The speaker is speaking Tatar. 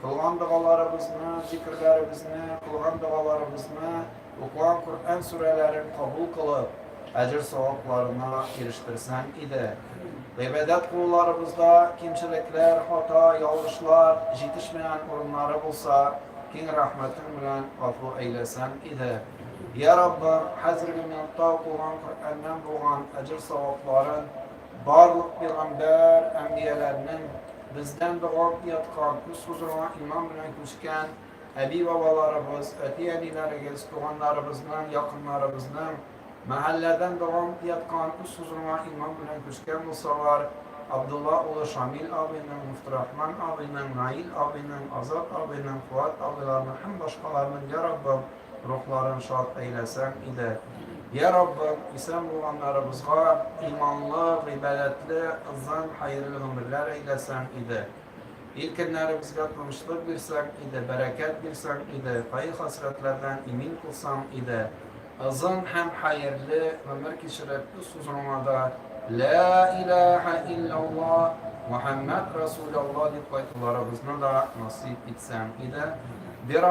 Кылган догаларыбызны, зикерләребезне, кылган догаларыбызны, укыган Коръән сүрәләрен кабул кылып, әҗер-савапларына ирештерсәң иде. Гыйбадәт кылуларыбызда кимчелекләр, хата, ялгышлар, җитешмәгән урыннары булса, киң рәхмәтең белән гафу әйләсәң иде. Я Раббым, хәзерге минутта укылган Коръәннән булган әҗер-савапларын Барлык пигамбәр, әмбияләрнең, бездән дога уяткан, күз хозурыңа иман белән күчкән әби-бабаларыбыз, әти-әниләрегез, туганнарыбызның, якыннарыбызның, мәхәлләдән дога уяткан, күз хозурыңа иман белән күчкән булсалар, Абдулла улы Шамил абыйның, Муфтырахман абыйның, Наил абыйның, Азат абыйның, Фуат абыйларның һәм башкаларның, я Раббым! рухларын шат әйләсәң иде. Йә Раббым, исән булганнарыбызга иманлы, гыйбадәтле, озын, хәерле гомерләр әйләсәң иде. Ил көннәребезгә тынычлык бирсәң иде, бәрәкәт бирсәң иде, кайгы-хәсрәтләрдән имин кылсаң иде. Озын һәм хәерле гомер кичереп, үз хозурыңа да Лә илаһа илляллаһ, Мөхәммәд Расуляллаһ дип кайтуларыбызны да насыйп итсәң иде. Бирә